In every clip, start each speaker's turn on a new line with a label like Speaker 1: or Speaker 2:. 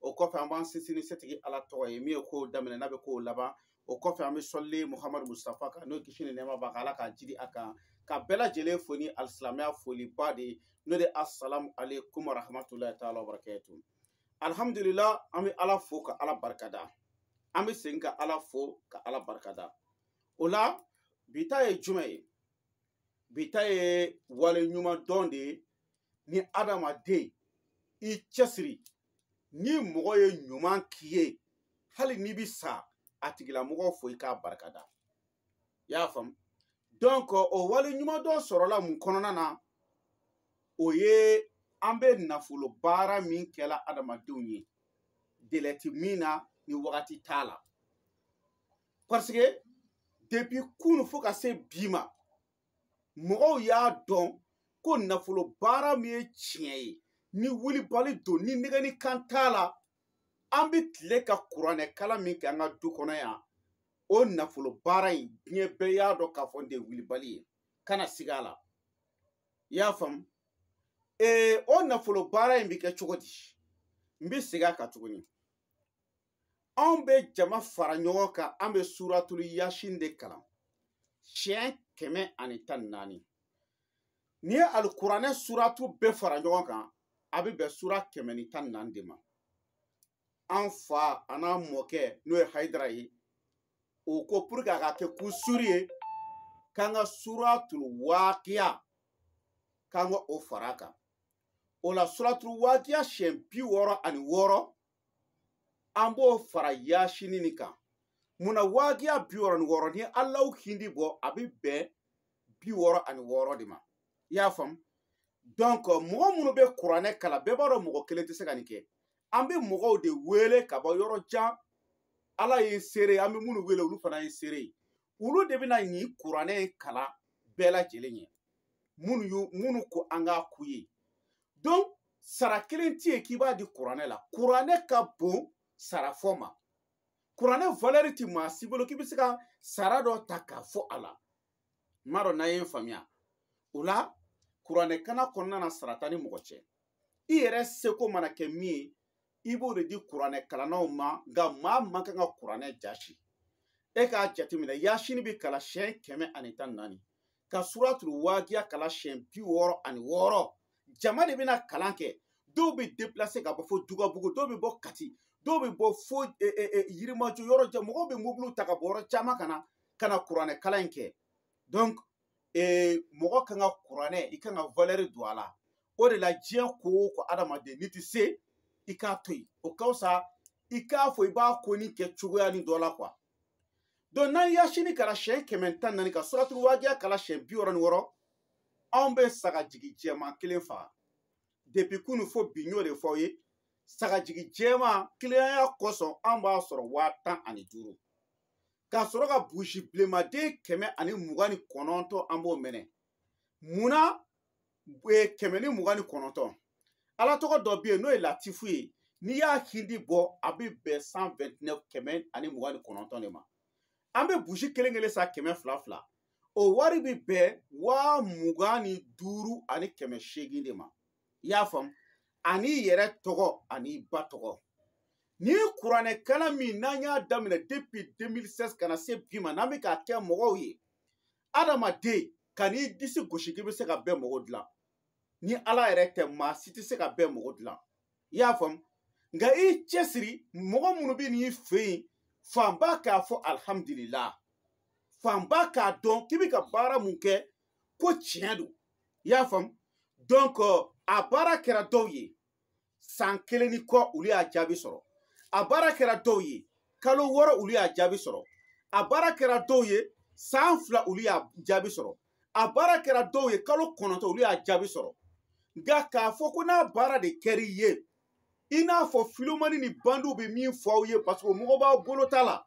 Speaker 1: o kɔfɛ an b'an sinsin ni setigi ala tɔgɔ ye min ye kow daminɛ n'a bɛ kow laban o kɔfɛ an bɛ sɔli muhamadu mustafa kan n'o kisi ni nɛɛma b'a kan ala k'a jiidi a kan ka bɛɛ lajɛlen fo ni alisilamɛya foliba de ye n'o de asalamu aleykum warahmatulahi taala wabarakatu alihamudulila an bɛ ala fo ka ala barikada an bɛ segin ka ala fo ka ala barikada o la bi ta ye jumɛn ye bi ta ye wale ɲuman dɔn de ye ni adamaden i cɛsiri ni mɔgɔ ye ɲuman k'i ye hali n'i bi sa a tigilamɔgɔ fo i k'a barikada i y'a faamu donc o wale ɲuman dɔn sɔrɔla mun kɔnɔna na o ye an bɛ nafolo baara min kɛ la adamadenw ye délai ti min na ni wagati t'a la parce que depuis kunu fo ka se bi ma mɔgɔw y'a dɔn ko nafolo baara min ye tiɲɛ ye ni wulibali don ni nɛgɛnni kan t'a la an bɛ tile ka kuranɛ kalan min kɛ an ka du kɔnɔ yan o nafolo baara in diɲɛ bɛɛ y'a dɔn k'a fɔ n de ye wulibali ye kana siga a la i y'a faamu ee o nafolo baara in bɛ kɛ cogo di n bɛ segin a kan tuguni anw bɛ jama fara ɲɔgɔn kan an bɛ suratulu yasin de kalan siɲɛ kɛmɛ ani tan ni naani n'i ye alikuranɛ suratu bɛɛ fara ɲɔgɔn kan a bɛ bɛn sura kɛmɛ ni tan ni naani de ma an fa an'an mɔkɛ n'o ye hayidara ye o ko pour que a ka kɛ ko suri ye k'an ka suratul waakiya k'an ka o fara a kan o la suratul waakiya siɲɛ bi wɔɔrɔ ani wɔɔrɔ an b'o fara yasini nin kan mun na waagiya bi wɔɔrɔ ni wɔɔrɔ ni alahu hindi bɔ a bɛ bɛn bi wɔɔrɔ ani wɔɔrɔ de ma i y'a faamu donc mɔgɔ minnu bɛ kuranɛ kalan bɛɛ b'a dɔn mɔgɔ kelen tɛ se ka nin kɛ an bɛ mɔgɔw de wele ka bɔ yɔrɔ jan ala ye seere ye an bɛ minnu wele olu fana ye seere ye olu de bɛna nin kuranɛ in kalan bɛɛ lajɛlen ye minnu minnu ko an k'a k'u ye donc sara kelen tɛ yen k'i b'a di kuranɛ la kuranɛ ka bon sara fɔ ma kuranɛ valeur tɛ maa si bolo k'i bɛ se ka sara dɔ ta k'a fɔ a la n m'a dɔn n'a ye n faamuya o la kuranɛ kalan kɔnɔna na sara t'a ni mɔgɔ cɛ i yɛrɛ seko mana kɛ min ye i b'o de di kuranɛ kalannaw ma nka maa man kan ka kuranɛ jaasi e k'a jateminɛ yasini bɛ kalan siyɛn kɛmɛ ani tan ni naani ka suratul waagiya kalan siyɛn bi wɔɔrɔ ani wɔɔrɔ jama de bɛna kalan kɛ dɔw bɛ deplase ka bɔ fo dugabugu dɔw bɛ bɔ kati dɔw bɛ bɔ fo e, e, e, yirimajɔ yɔrɔ jan mɔgɔw bɛ mobiliw ta ka bɔ yɔrɔ caman ka na ka na kuranɛ kalan in kɛ donc ee mɔgɔ kan ka kuranɛ i kan ka valɛri don a la o de la diɲɛ ko o ko adamaden n'i tɛ se i k'a to yen o ka fisa i k'a fɔ i b'a ko ni kɛ cogoya ni dɔ la quoi donc n'an yasini kalan siɲɛ kɛmɛ tan ni naani ka suratu wajiya kalan siɲɛ bi wɔɔrɔ ni wɔɔrɔ anw bɛ sagajigi jɛman kelen faga depi kunu fo bi n y'o de fɔ aw ye sagajigi jɛman kiliyanya kosɔn an b'a sɔrɔ waa tan ani duuru ka sɔrɔ ka buzi bilenmaden kɛmɛ ani mugan ni kɔnɔntɔn an b'o mɛnɛ mun na kɛmɛ ni mugan ni kɔnɔntɔn ala tɔgɔ dɔ bɛ yen n'o ye latifu ye n'i y'a hindi bɔ a bɛ bɛn cent vingt-neuf kɛmɛ ani mugan ni kɔnɔntɔn de ma an bɛ buzi kelen kelen san kɛmɛ fila fila o wari bɛ bɛn waa mugan ni duuru ani kɛmɛ seegin de ma i y'a faamu an'i yɛrɛ tɔgɔ an'i ba tɔgɔ ni kuranɛkalan min n'an y'a daminɛ depi 2016 ka na se bi ma n'an bɛ k'a kɛ mɔgɔw ye adamaden kan'i disi gosi k'i bɛ se ka bɛɛ mago dilan ni ala yɛrɛ tɛ maa si tɛ se ka bɛɛ mago dilan i y'a faamu nka i cɛsiri mɔgɔ minnu bɛ n'i fɛ yen fanba k'a fɔ alihamudulila fanba k'a dɔn k'i bɛ ka baara min kɛ ko tiɲɛ don i y'a faamu donc a baara kɛra dɔw ye san kelen ni kɔ olu y'a jaabi sɔrɔ a baara kɛra dɔw ye kalo wɔɔrɔ olu y'a jaabi sɔrɔ a baara kɛra dɔw ye san fila olu y'a jaabi sɔrɔ a baara kɛra dɔw ye kalo kɔnɔntɔn olu y'a jaabi sɔrɔ nka k'a fɔ ko n'a baara de kɛr'i ye i n'a fɔ filomani ni bandiw bɛ min fɔ aw ye paseke o mago b'aw bolo ta la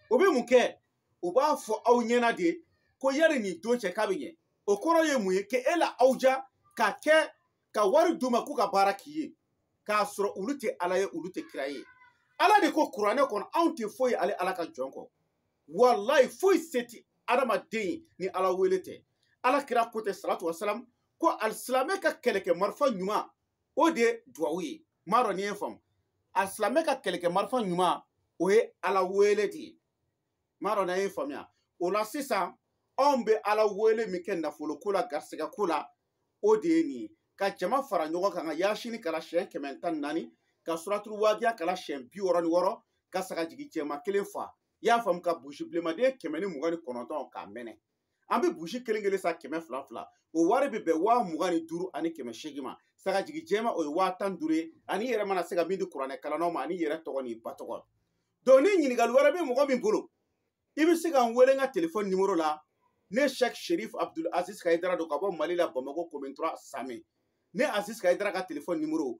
Speaker 1: o bɛ mun kɛ u b'a fɔ aw ɲɛna de ko yani nin don cɛ k'a bɛ ɲɛ o kɔrɔ ye mun ye ke e la aw ja ka kɛ ka wari d'u ma k'u ka baara k'i ye k'a sɔrɔ olu tɛ ala ye olu tɛ kira ye ala de ko kuranɛ kɔnɔ anw tɛ foyi ale ala ka jɔn kɔ walayi foyi se tɛ adamaden ye ni ala wele tɛ ala kira ko tɛ salatu wasalam ko alisilamɛ ka kɛlɛkɛ marifa ɲuman o de ye duwawu ye m'a dɔn n'i y'a faamu alisilamɛ ka kɛlɛkɛ marifa ɲuman o ye ala wele de ye m'a dɔn n'a y'a faamuya o la sisan anw bɛ ala wele min kɛ nafolo ko la garisɛgɛ ko la o de ye nin ye ka jama fara ɲɔgɔn kan ka yaasini kalan siyɛn kɛmɛ tan ni naani ka suraturu waajiya kalan siyɛn bi wɔɔrɔ ni wɔɔrɔ ka sagajigi jɛman kelen fa i y'a faamu ka buzi bilenmaden kɛmɛ ni mugan ni kɔnɔntɔn k'a mɛnɛ an bɛ buzi kelen kelen san kɛmɛ fila fila o wari bɛ bɛn waa mugan ni duuru ani kɛmɛ seegin ma sagajigi jɛman o ye waa tan ni duuru ye an'i yɛrɛ mana se ka min di kuranɛ kalannaw ma an'i yɛrɛ tɔgɔ n'i ba tɔgɔ donc ni ɲininkali wɛrɛ bɛ mɔgɔ min bolo i bɛ se ka n wele n ka telefɔni nimoro la ne sɛk sherif abdul aziz kayidara don ka bɔ mali la bamako commune trois samɛ ne aziz kayidara ka telefɔni nimoro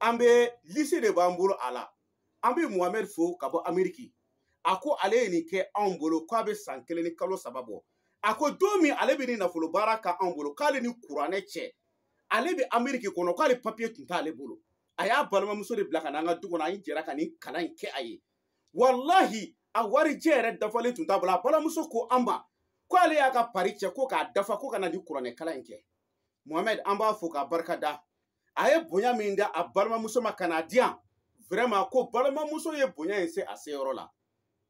Speaker 1: an bɛ lisi de b'an bolo a la an bɛ muhamɛd fo ka bɔ ameriki a ko ale ye nin kɛ anw bolo k'a bɛ san kelen ni kalo saba bɔ a ko don min ale bɛ nin nafolo baara k'anw bolo k'ale ni kuranɛ cɛ ale bɛ ameriki kɔnɔ k'ale papiye tun t'ale bolo a y'a balimamuso de bila ka na an ka du kɔnɔ an ye jɛra ka nin kalan in kɛ a ye walahi a warijɛ yɛrɛ dafalen tun t'a bolo a balimamuso ko an ma ko ale y'a ka pari cɛ ko k'a dafa ko ka na nin kuranɛ kalan in kɛ mohamɛd an b'a fo k'a barika da a ye bonya min d'a balimamuso ma ka n'a di yan vraiment ko balimamuso ye bonya in se a seyɔrɔ la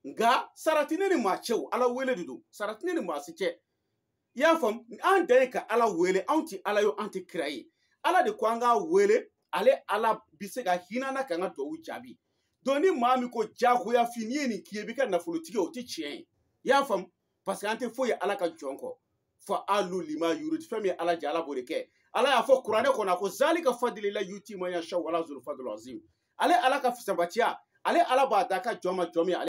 Speaker 1: nka sarati ne ni maa cɛ o ala wele de don sarati ne ni maa si cɛ i y'a faamu an dan ye ka ala wele anw tɛ ala ye an tɛ kira ye ala de ko an k'a wele ale ala bɛ se ka hinɛ an na k'an ka duwawu jaabi donc ni maa min ko jagoyafin n'i ye nin k'i ye i bɛ kɛ nafolotigi ye o tɛ tiɲɛ ye i y'a faamu parce que an tɛ foyi ye ala ka jɔn kɔ faalu lima yuridi fɛn min ye ala diya ala b'o de kɛ ala y'a fɔ kuranɛ kɔnɔ a ko zalika fadilila yuti man yasha wala zulu fadul azim ale ala ka fisabaciya ale ala b'a d'a ka jɔn ma jɔn min ale